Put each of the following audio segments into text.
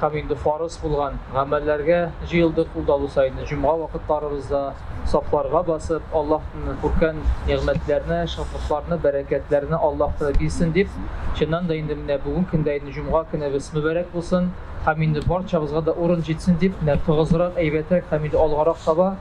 һәм инде фарыз булган гамәлләргә җыелдык ул да бу саен җомга вакытларыбызда сафларга басып Аллаһтан күркән нигъмәтләрне шатлыкларны бәрәкәтләрне Аллаһ тәгәлә бирсен дип чыннан да инде менә бүген көндә инде җомга көнебез мөбарәк булсын һәм инде барчабызга да урын җитсен дип менә тыгызрак әйбәтрәк һәм инде алгарак таба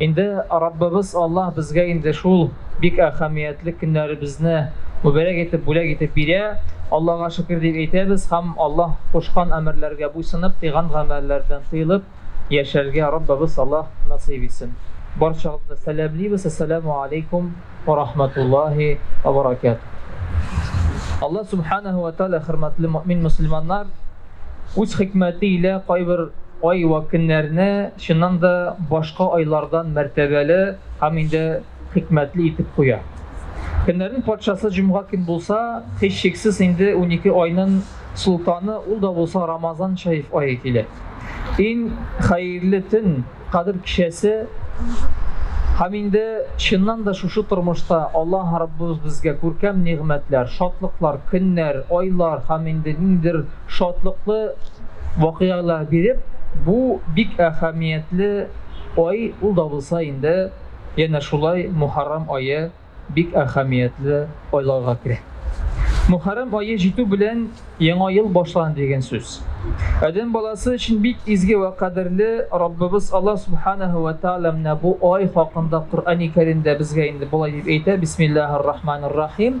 Инде Раббыбыз Аллаһ безгә инде шул бик әһәмиятле көннәребезне мөбарәк итеп бүләк итеп бирә. Аллага шөкер дип әйтәбез һәм Аллаһ кушкан әмерләргә буйсынып, тыйган гамәлләрдән тыелып яшәргә Раббыбыз Аллаһ насыйп итсен. Барчагызны да сәламлибез, Әссәләмү алейкум уә рахматуллаһи уә баракәтүһ. Аллаһ Сүбхәнәһү уә тәгалә хөрмәтле мөэмин-мөселманнар үз хикмәте илә кайбер ай вә көннәрне, Чыннан да, башка айлардан мәртәбәле һәм инде хикмәтле итеп куя. Көннәрнең патшасы җомга көн булса, һичшиксез инде унике айнын солтаны ул да булса Рамазан шәриф ае килә. Ин хәерле төн, Кадер кичәсе Һәм инде чыннан да шушы тормышта Аллаһ Раббыбыз безгә күркәм нигъмәтләр, шатлыклар, көннәр, айлар һәм инде ниндидер шатлыклы вакыйгалар биреп, бу бик әһәмиятле ай ул да булса инде, янә шулай Мухаррам ае бик әһәмиятле айларга керә. Мухаррам ае җитү белән яңа ел башлана дигән сүз. Адәм баласы өчен бик изге вә кадерле Раббыбыз Аллаһ Субханаһу вә Тәгалә менә бу ай хакында Коръәни Кәримдә безгә инде болай дип әйтә, Бисмиллаһир-Рахманир-Рахим.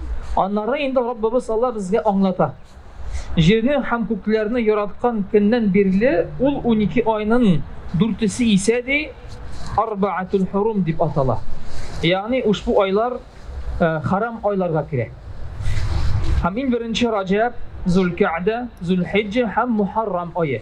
Аннары инде Раббыбыз Алла безгә аңлата. Җирне һәм күкләрне яраткан көннән бирле ул унике айның дүртесе исә ди Арбаатул Хурум дип атала. Ягъни ушбу айлар э, харам айларга керә. Һәм иң беренче Раҗаб, Зулкәгъдә, Зулхиҗҗә һәм Мухаррам ае.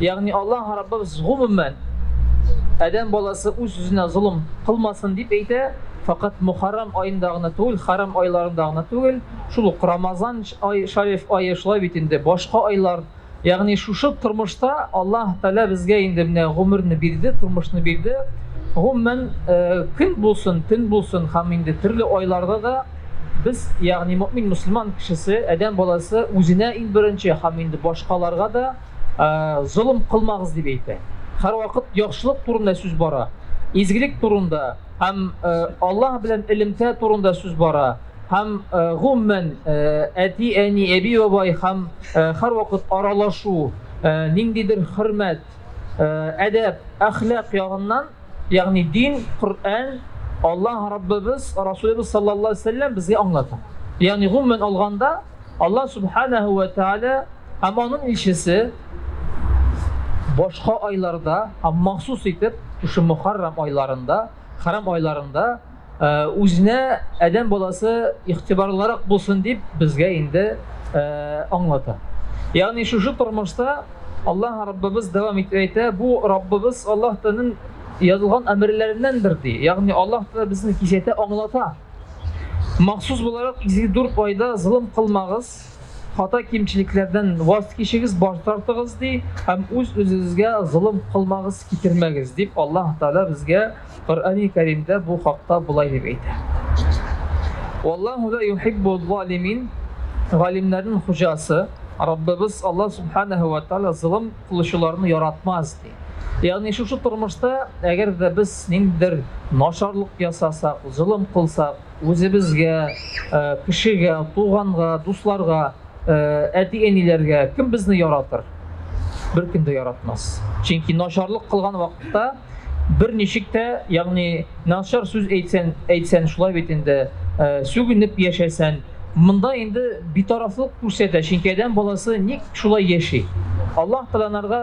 Ягъни Аллаһ Раббыбыз гомумән адәм баласы үз үзенә золым кылмасын дип әйтә, факат Мухаррам аенда гына түгел, Харам айларында гына түгел, шул ук Рамазан ай, Шариф ае шулай бит инде, башка айлар, ягъни шушы тормышта Аллаһ Тәгалә безгә инде менә гомерне бирде, тормышны бирде. Гомумән, э, көн булсын, төн булсын һәм инде төрле айларда да Без, ягъни мөэмин мөселман кешесе, адәм баласы үзенә иң беренче һәм инде башкаларга да золым кылмагыз дип әйтә. Һәрвакыт яхшылык турында сүз бара, изгелек турында һәм Аллаһ белән элемтә турында сүз бара. Һәм гомумән әти, әни, әби, бабай һәм һәрвакыт аралашу, ниндидер хөрмәт, әдәп, әхлак ягыннан Ягъни дин, Коръән, Аллаһ Раббыбыз, Расулыбыз саллаллаһу алейһи вә сәлләм безгә аңлата. Ягъни гомумән алганда, Аллаһ субханаһу вә тааля һәм аның илчесе башка айларда һәм махсус итеп шушы Мөхәррам айларында, Хәрам айларында үзенә адәм баласы игътибарлырак булсын дип безгә инде аңлата. Ягъни шушы тормышта Аллаһ Раббыбыз дәвам итеп әйтә, бу Раббыбыз Аллаһ Тәгаләнең язылган әмерләреннәндер ди. Ягъни Аллаһ Тәгалә безне кисәтә, аңлата. Махсус буларак изге дүрт айда золым кылмагыз, Хата кимчелекләрдән ваз кичегез, баш тартыгыз, ди, һәм үз үзегезгә золым кылмагыз, китермәгез, дип Аллаһ Тәгалә безгә Коръәни Кәримдә бу хакта болай дип әйтә. Валлаһу ла юхиббу залимин, галимнәрнең хуҗасы, Раббыбыз Аллаһ Субханаһу ва Тәгалә золым кылучыларны яратмас, ди. Ягъни шушы тормышта, әгәр дә без ниндидер начарлык ясасак, золым кылсак, Үзебезгә, кешегә, туганга, дусларга, әти-әниләргә кем безне яратыр? Беркем дә яратмас. Чөнки начарлык кылган вакытта берничек тә, ягъни начар сүз әйтсән, әйтсән шулай бит инде, сүгенеп яшәсән, монда инде битарафлык күрсәтә, чөнки адәм баласы ник шулай яши? Аллаһ Тәгаләнәргә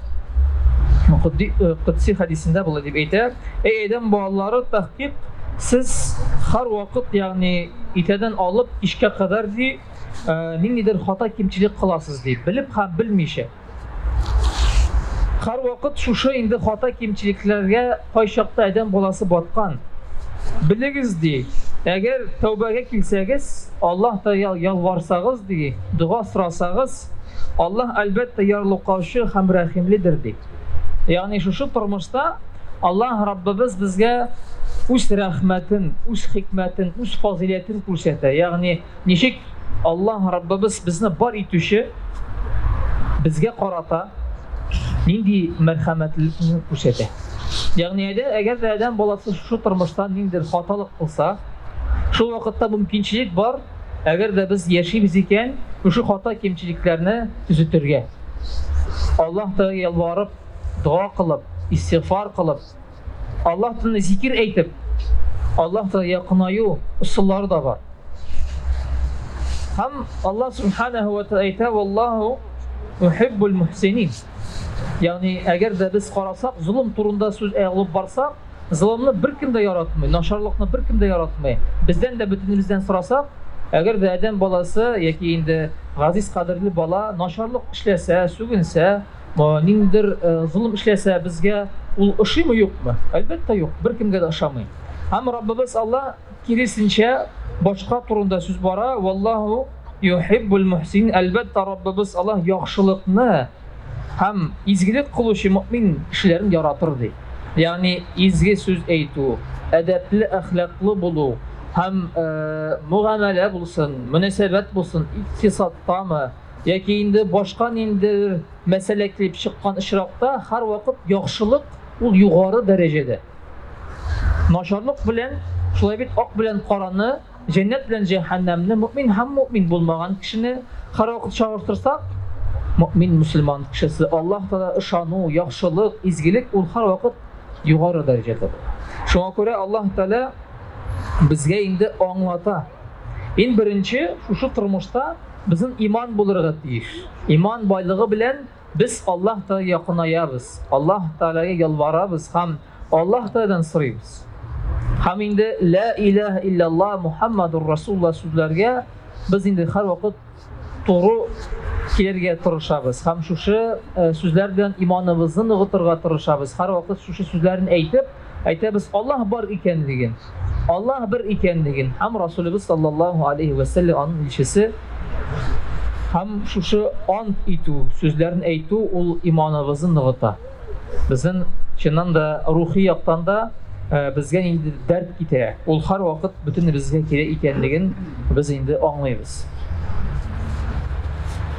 Кудди, э, Кудси хадисендә болай дип әйтә, Эй Әдәм балалары, тәхкик, сез хар вакыт, ягъни итәдән алып кичкә кадәр ди, э, ниндидер хата кимчилек кыласыз ди, белеп һәм белмичә. Хар вакыт шушы инде хата кимчилекләргә кайчакта Әдәм баласы баткан. Белегез ди, әгәр тәүбәгә килсәгез, Аллаһ та ялварсагыз, ди, дога сорасагыз, Аллаһ, әлбәттә, ярлыкаучы һәм рәхимледер, ди. Ягъни шушы тормышта Аллаһ Раббыбыз безгә үз рәхмәтен, үз хикмәтен, үз фазилятен күрсәтә. Ягъни ничек Аллаһ Раббыбыз безне бар итүче безгә карата нинди мәрхәмәтлелекне күрсәтә. Ягъни әгәр дә адәм баласы шушы тормышта ниндидер хаталык кылса, Шул вакытта бу мөмкинчелек бар, әгәр дә без яшибез икән, шушы хата-кимчелекләрне төзетергә. Аллаһ Тәгаләгә ялварып, дога кылып, истигъфар кылып, Аллаһ телендә зикер әйтеп, Аллаһ Тәгаләгә якынаю ысуллары да бар. Һәм Аллаһ Субханаһу ва Тәгалә әйтә, "Валлаһу юхиббул мухсинин". Ягъни, әгәр дә без карасак, золым турында сүз алып барсак, Золымны беркем дә яратмый, начарлыкны беркем дә яратмый. Бездән дә бөтенебездән сорасак, әгәр дә адәм баласы яки инде газиз кадерле бала начарлык эшләсә, сүгенсә, ниндидер э, золым эшләсә, безгә ул ошыймы юкмы? Әлбәттә юк, беркемгә дә ошамый. Һәм Раббыбыз Алла Киресенчә, башка турында сүз бара. Валлаху юхиббул мухсин. Әлбәттә, Раббыбыз Аллаһ яхшылыкны һәм изгелек кылучы мөмин кешеләрен яратыр ди. Ягъни изге сүз әйтү, әдәпле, әхлаклы булу һәм э, мөгамәлә булсын, мөнәсәбәт булсын, икътисадтамы яки инде башка ниндидер мәсьәлә килеп чыккан очракта һәрвакыт яхшылык ул югары дәрәҗәдә. Начарлык белән, шулай бит, ак белән караны, җәннәт белән җәһәннәмне, мөэмин һәм мөэмин булмаган кешене һәрвакыт чагыштырсак, мөэмин мөселман кешесе, Аллаһ Тәгаләгә ышану, яхшылык, изгелек ул һәрвакыт югары дәрәҗәдә була. Шуңа күрә Аллаһ Тәгалә безгә инде аңлата. Ин беренче шушы тормышта безнең иман булырга тиеш. Иман байлыгы белән Без Аллаһ Тәгаләгә якынаябыз, Аллаһ Тәгаләгә ялварабыз һәм Аллаһ Тәгаләдән сорыйбыз. Һәм инде Лә илаһә илляллаһ Мухаммадур Расулуллаһ сүзләргә без инде һәрвакыт туры килергә тырышабыз һәм шушы сүзләр белән иманыбызны ныгытырга тырышабыз. Һәрвакыт шушы сүзләрне әйтеп, әйтәбез Аллаһ бар икәнлеген, Аллаһ бер икәнлеген һәм Расулыбыз саллаллаһу алейхи вә сәлләм аның илчесе һәм шушы ант итү сүзләрен әйтү ул иманыбызны ныгыта. Безнең чыннан да рухи яктан да э, безгә инде дәрт китерә. Ул һәрвакыт бөтенебезгә кирәк икәнлеген без инде аңлыйбыз.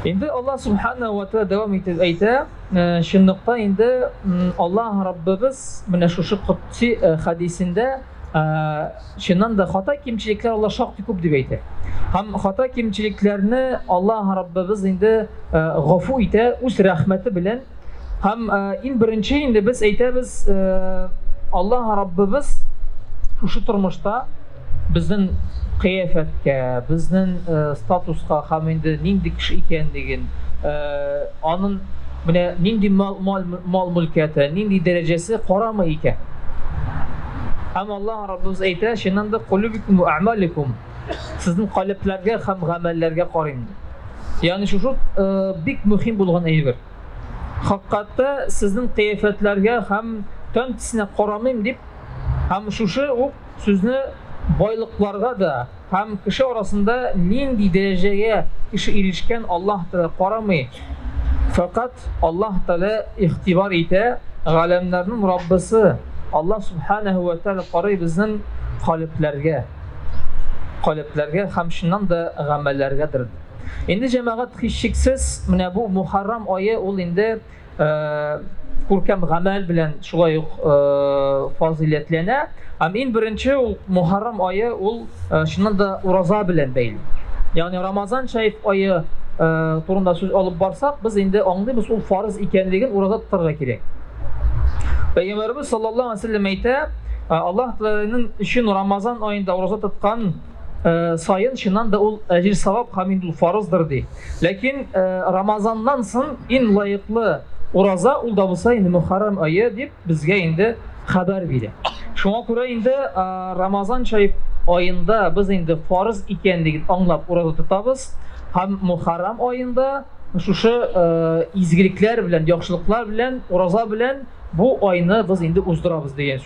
Инде Аллаһ субхана ва тәгалә дәвам итеп әйтә, Э, чынлыкта инде Аллаһ Раббыбыз менә шушы котси э, хадисендә э, чыннан да хата кимчелекләр Аллаһ шактый күп дип әйтә. Һәм хата кимчелекләрне Аллаһ Раббыбыз инде гафу итә үз рәхмәте белән. Һәм иң беренче инде без әйтәбез Аллаһ Раббыбыз шушы тормышта Безнең кыяфәткә, безнең статуска һәм инде нинди кеше икәнлеген, анын менә нинди мал-мөлкәте, нинди дәрәҗәсе карамый икән. Һәм Аллаһ Раббыбыз әйтә, чыннан да кулубикум ва амаликум. Сезнең калебләргә һәм гамәлләргә карыйм. Ягъни шушы бик мөһим булган әйбер. Хаккатта сезнең кыяфәтләргә һәм тән тисенә карамыйм дип, һәм шушы ук Сүзне байлыкларга да һәм кеше арасында нинди дәрәҗәгә кеше ирешкән Аллаһ Тәгалә карамый, фәкать Аллаһ Тәгалә игътибар итә, галәмнәрнең Раббысы Аллаһ Сүбхәнәһү вә Тәгалә карый безнең калебләргә, калебләргә һәм чыннан да гамәлләргәдер. Инде җәмәгать һичшиксез менә бу Мухаррам ае ул инде күркәм гамәл белән шулай ук фазыйләтләнә. Һәм иң беренче ул Мухаррам ае ул чыннан да ураза белән бәйле. Ягъни Рамазан шәриф ае турында сүз алып барсак, без инде аңлыйбыз ул фарыз икәнлеген ураза тотарга кирәк. Пәйгамбәрбез саллаллаһу алейһи ва әйтә, Аллаһ Тәгаләнең өчен Рамазан аенда ураза тоткан Э, сайын чыннан да ул әҗир савап һәм инде ул фарыздыр ди ләкин э, рамазаннан соң иң лаеклы ураза ул да булса инде мөхәррәм айы дип безгә инде хәбәр бирә шуңа күрә инде э, рамазан шәриф айында без инде фарыз икәнлеген аңлап ураза тотабыз һәм мөхәррәм айында шушы изгелекләр белән яхшылыклар белән ураза белән бу айны без инде уздырабыз дигән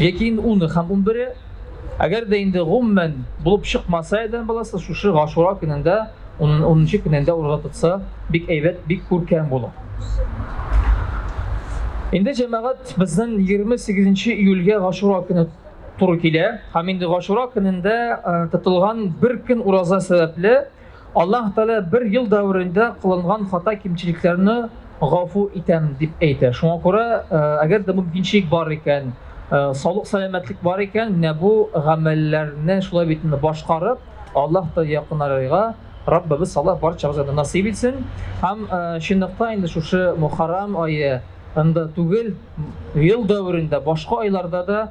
Яки инде уны һәм унбере, әгәр дә инде гомумән булып чыкмаса адәм баласы, шушы Гашура көнендә, унынчы көнендә ураза тотса, бик әйбәт, бик күркәм була. Инде җәмәгать безнең 28 июльгә Гашура көне туры килә. Һәм инде Гашура көнендә э, тотылган бер көн ураза сәбәпле Аллаһ Тәгалә бер ел дәверендә кылынган хата-кимчелекләрне гафу итәм дип әйтә. Шуңа күрә, э, әгәр дә мөмкинчелек бар икән, э, саулык сәламәтлек бар икән, менә бу гамәлләрне шулай бит башкарып, Аллаһ Тәгалә якынарырга Раббыбыз Аллаһ барчабызга да насыйп итсен. Һәм э, чынлыкта инде шушы Мухаррам ае анда түгел, ел дәверендә башка айларда да